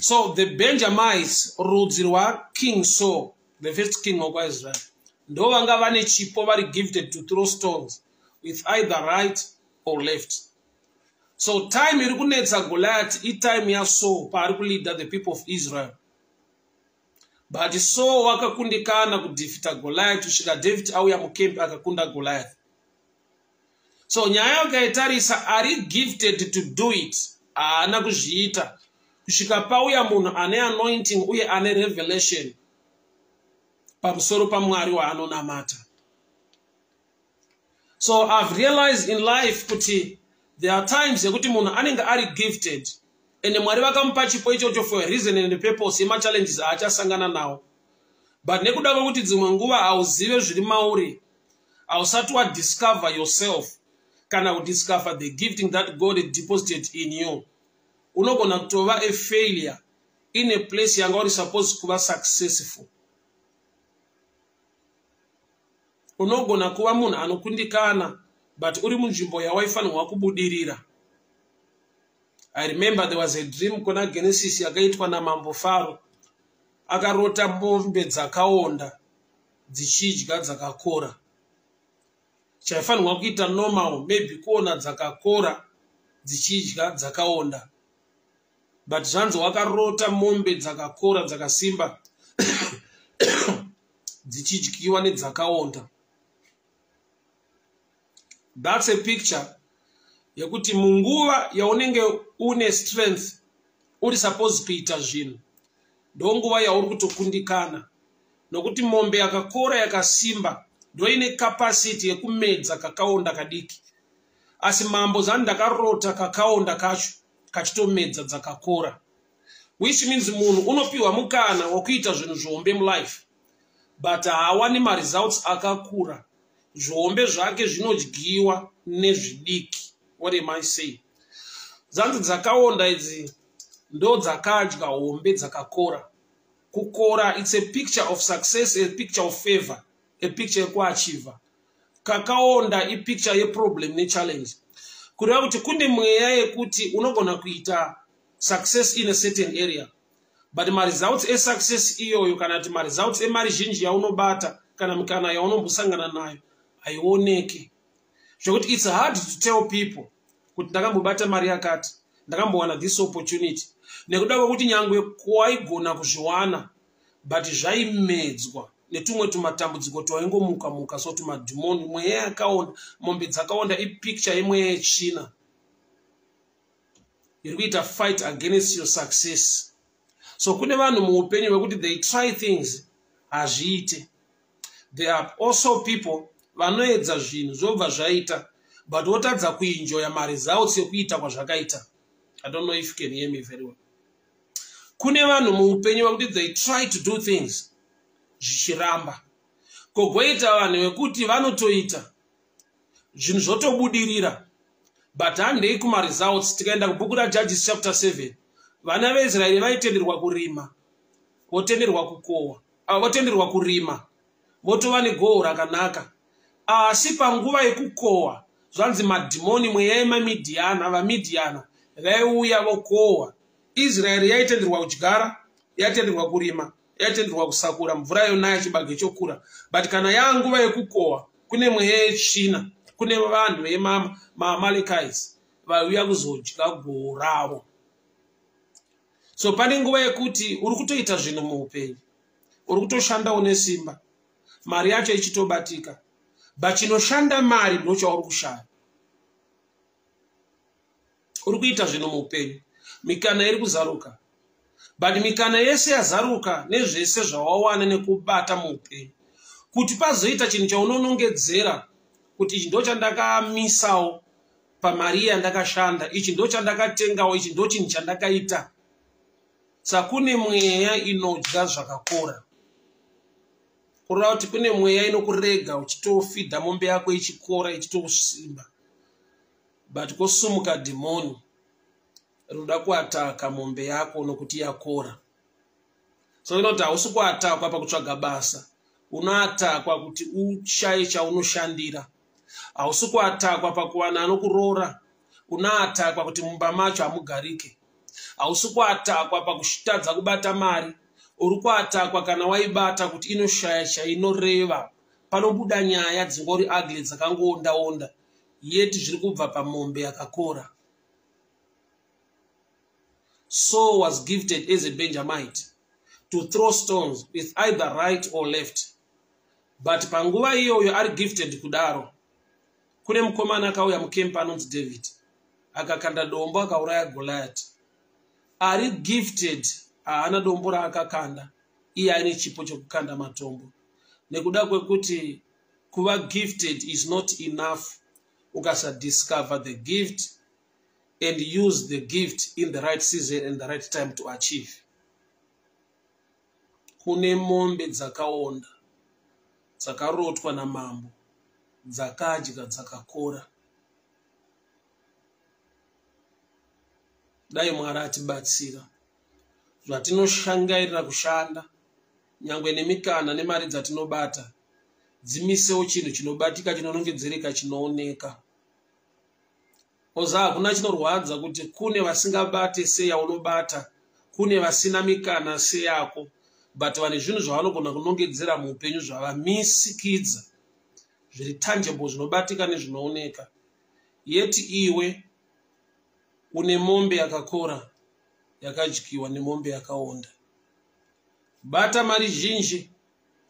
so the benjamites rudzi rwaking saul the first king wakwaisrael ndo vanga vane chipo vari gifted to throw stones with either right or left so time iri kunetsa goliath itime yasaul paari kuleader the people of israel but saul wakakundikana kudhifita goliath kusvika david auya mukempi akakunda goliath so nyaya ukaitarisa ari gifted to do it haana kuzviita kusvika pauya munhu ane anointing uye ane revelation pamusoro pamwari waanonamata so i've realized in life kuti there are times yekuti munhu anenge ari gifted ende mwari vakamupa chipo ichocho for a reason and purpose yemachallenges aachasangana nawo but nekuda kwekuti dzimwe nguva hauzive zviri mauri hausati wadiscover yourself kana kudiscover the gifting that god deposited in you unogona kutova a failure in a place yanga uri supposed kuva successful unogona kuva munhu anokundikana but uri munzvimbo yawaifanirwa kubudirira i remember there was a dream kuna genesis yakaitwa namambo faro akarota mombe dzakaonda dzichidya dzakakora chaifanirwa kuita normal maybe kuona dzakakora dzichidya dzakaonda but zvanzi wakarota mombe dzakakora dzakasimba dzichidyiwa nedzakaonda that's a picture yekuti munguva yaunenge une strength uri suppose kuita zvinhu ndonguva yauri kutokundikana nokuti mombe yakakora yakasimba ndoine capacity yekumedza kakaonda kadiki asi mambo zani ndakarota kakaonda kacho kachitomedza dzakakora which means munhu unopiwa mukana wekuita zvinhu zvihombe mulife but haawani maresults akakura zvihombe zvake zvinodyiwa nezvidiki what am i saying dzanzi dzakaonda idzi ndo dzakadya hombe dzakakora kukora it's a picture of success a picture of favor a picture yekuachiva kakaonda ipicture yeproblem nechallenge kureva kuti kune mweya yekuti unogona kuita success in a certain area but maresults esuccess iyoyo kana kuti maresults emari zhinji yaunobata kana mikana yaunombosangana nayo haioneki zvekuti its hard to tell people kuti ndakambobata mari yakati ndakambowana this opportunity nekuda kwekuti nyangwe kwaigona kuzviwana but zvaimedzwa netumwe tumatambudziko twaingomuka muka so tumadhimoni mweya yakaonda mombe dzakaonda ipicture yemweya yetsvina iri kuita fight against your success so kune vanhu muupenyu vekuti they try things hazviite there are also people vanoedza zvinhu zvobva zvaita but wotadza kuinjoya maresults ekuita kwazvakaita i don't know if you can hear me very well kune vanhu muupenyu vekuti they try to do things zvichiramba kogoita vanhu vekuti vanotoita zvinhu zvotobudirira but handei kumaresults tikaenda kubhuku rajudges chapter 7 vana veisraeri vaitenderwa kurima votenderwa kukowa ava votenderwa kurima votova negoho rakanaka asi panguva yekukowa zvanzi madhimoni mweya yemamidhiyana vamidhiyana vaiuya vokowa israeri yaitenderwa kudyara yaitenderwa kurima yatenderwa kusakura mvura yonaya chibage chokura but kana yanguva yekukohwa kune mweya yetsvina kune vanhu vemama maamalekais vauya kuzodya goho ravo so pane nguva yekuti uri kutoita zvinhu muupenyu uri kutoshanda une simba mari yacho ichitobatika but chinoshanda mari ndochauri kushaya uri kuita zvinhu muupenyu mikana iri kuzaruka but mikana yese yazaruka nezvese zvawawana nekubata muupenyu kuti pazoita chinhu chaunonongedzera kuti ichi ndo chandakamisawo pamari yandakashanda ichi ndo chandakatengawo ichi ndo chinhu chandakaita sakune mweya inodya zvakakora kureva kuti kune mweya inokurega uchitofidha mombe yako ichikora ichitosimba but kosumuka dhimoni rinoda kuataka mombe yako nokuti yakora so inoti hausi kuatakwa pakutsvaga basa unoatakwa kuti ushaye chaunoshandira hausi kuatakwa pakuwana anokuroora unaatakwa kuti mumba macho hamugarike hausi kuatakwa pakutadza kubata mari uri kuatakwa kana waibata kuti inoshaya chainoreva panobuda nyaya dzingori ugly dzakangoonda onda yeti zviri kubva pamombe yakakora Saul was gifted as a Benjamite to throw stones with either right or left. but panguva iyoyo ari gifted kudaro kune mukomana akauya mukempa anonzi david akakanda dombo akauraya goliati ari gifted haana dombo raakakanda iye aine chipo chekukanda matombo nekuda kwekuti kuva gifted is not enough ukasadiscover the gift and use the gift in the right season and the right time to achieve Kune mombe dzakaonda dzakarotwa namambo dzakadya dzakakora. Dai Mwari atibatsira zvatinoshangairira kushanda nyangwe nemikana nemari dzatinobata dzimisewo chinhu chinobatika chinonongedzereka chinooneka koza hakuna chinorwadza kuti kune vasingabate seya unobata kune vasina mikana seyako but vane zvinhu zvavanogona kunongedzera muupenyu zvavamisikidza zviri tangible zvinobatika nezvinooneka yeti iwe une mombe yakakora yakadyiwa nemombe yakaonda bata mari zhinji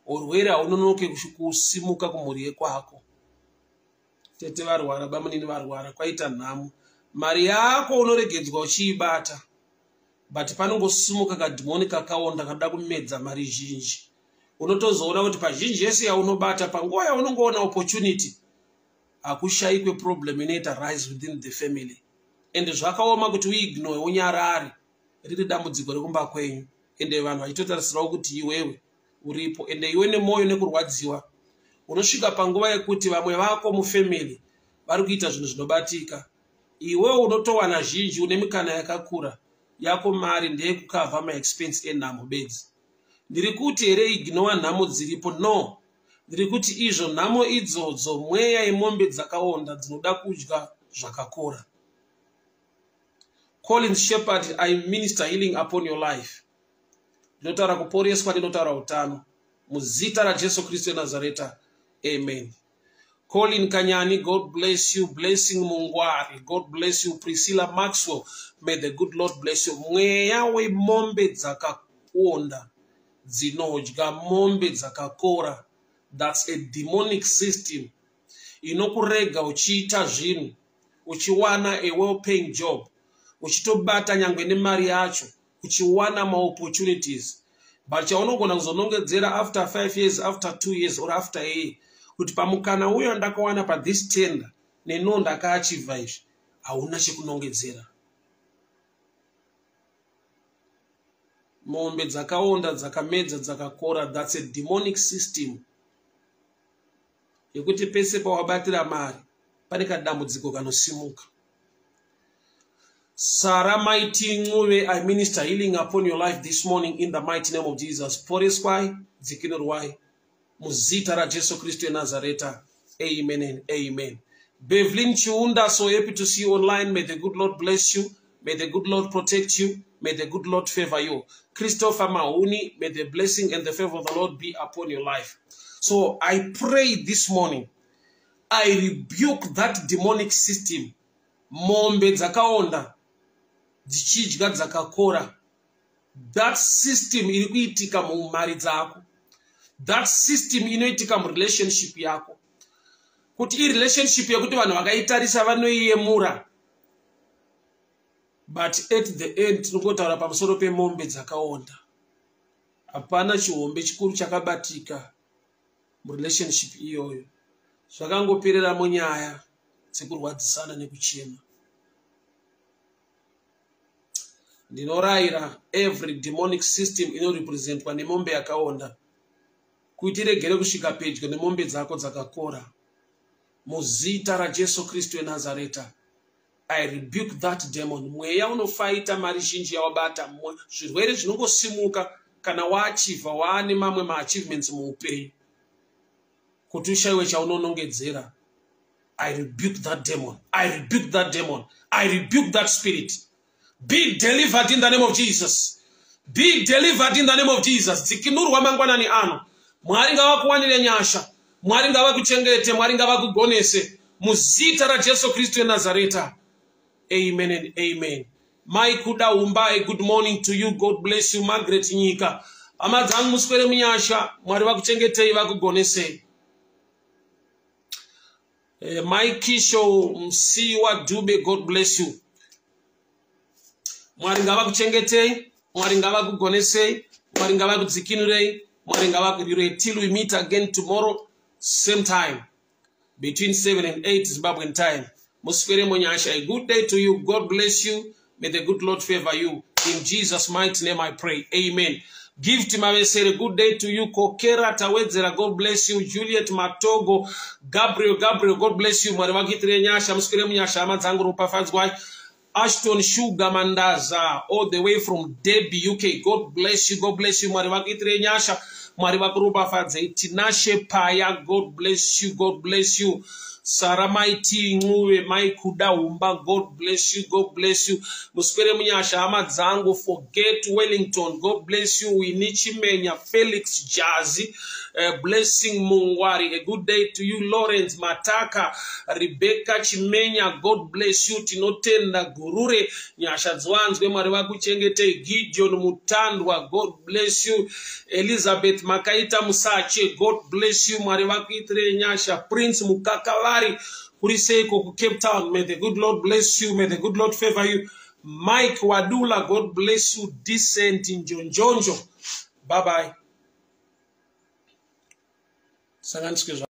urwere haunonoke kusimuka kumhuri yekwako tete varwara bamunini varwara kwaita nhamo mari yako unoregedzwa uchiibata but panongosumuka kadhimoni kakaonda kanoda kumedza mari zhinji unotozoona kuti pazhinji yese yaunobata panguva yaunongoona opportunity hakushaikwe problem inoita rise within the family ende zvakaoma kuti uignore unyarare riri dambudziko rekumba kwenyu ende vanhu vachitotarisirawo kuti iwewe uripo ende iwe nemwoyo nekurwadziwa unosvika panguva yekuti vamwe vako mufamily vari kuita zvinhu zvinobatika iwewo unotowana zhinji une mikana yakakura yako mari ndeyekukavha maexpense enhamo bedzi ndiri kuti here ignowa nhamo dziripo no ndiri kuti izvo nhamo idzodzo mweya yemombe dzakaonda dzinoda kudya zvakakora collins shepherd i minister healing upon your life ndinotaura kuporeswa ndinotaura utano muzita rajesu kristu enazareta amen colin kanyani god bless you blessing mungwari god bless you priscilla maxwell may the good lord bless you mweya wemombe dzakaonda dzinodya mombe dzakakora thats a demonic system inokurega uchiita zvinhu uchiwana a well paying job uchitobata nyangwe nemari yacho uchiwana maopportunities but chaunogona kuzonongedzera after five years after two years or after a kuti pamukana uyo andakawana pathis tender neno ndakaachiva izvi hauna chekunongedzera mombe dzakaonda dzakamedza dzakakora thats a demonic system yekuti pese pawabatira mari pane kadambudziko kanosimuka sara mighty ncube i minister healing upon your life this morning in the mighty name of jesus poreswai dzikinurwai muzita rajesu kristu enazareta amen and amen Bevlin Chiunda, so happy to see you online. May the good Lord bless you. May the good Lord protect you. May the good Lord favor you. Christopher Mahuni, may the blessing and the favor of the Lord be upon your life. So I pray this morning. I rebuke that demonic system. Mombe dzakaonda dzichidya dzakakora. That system iri kuitika mumari dzako. That system inoitika murelationship yako. Kuti i relationship yekuti vanhu vakaitarisa vanoiyemura. but at the end tinongotaura pamusoro pemombe dzakaonda hapana chihombe chikuru chakabatika murelationship iyoyo zvakangoperera munyaya dzekurwadzisana nekuchema ndinorayira every demonic system inorepresentwa nemombe yakaonda kuti iregere kusvika pedyo nemombe dzako dzakakora muzita rajesu kristu enazareta i rebuke that demon mweya unofaita mari zhinji yawabata zvirwere zvinongosimuka kana waachivha waane mamwe maachievements muupenyu kuti ushaiwe chaunonongedzera i rebuke that demon i rebuke that demon i rebuke that spirit be delivered in the name of jesus be delivered in the name of jesus dzikinurwa mangwanani ano mwari ngavakuwanire nyasha mwari ngavakuchengete mwari ngavakugonese muzita rajesu kristu yenazareta amen and amen mai kuda umbae good morning to you god bless you margaret nyika hama dzangu muswere munyasha mwari vakuchengetei vakugonesei Eh, mai kisho msiwa dube god bless you mwari ngavakuchengetei mwari ngavakugonesei mwari ngavakudzikinurei mwari ngavakurirei till we meet again tomorrow same time between 7 and 8 zimbabwean time muswere monyasha a good day to you god bless you May the good Lord favor you. In Jesus' mighty name I pray. Amen. Gift Mavesere, good day to you. Kokera Tawedzera, God bless you. Juliet Matogo, Gabriel, Gabriel, God bless you. Mwari vakitire nyasha, musikire munyasha, hama dzangu ropafadzwai. Ashton Sugar Mandaza, all the way from Debbie, UK. God bless you, God bless you. Mwari vakitire nyasha, Mwari vakuropafadzei. Tinashe Paya, God bless you, God bless you. sara mai tii ncuve mai kuda humba god bless you god bless you muswere munyasha hama dzangu forget wellington god bless you wini chimenya felix jazi uh, blessing mungwari a good day to you lawrence mataka rebecca chimenya god bless you tinotenda gurure nyasha dziwanzwe mwari vakuchengetei gideon mutandwa god bless you elizabeth makaita musache god bless you mwari vakuitirei nyasha prince mukakavari kuri seiko kucape town may the good lord bless you may the good lord favor you mike wadula god bless you decent njonjonjo bye bye sanganiswe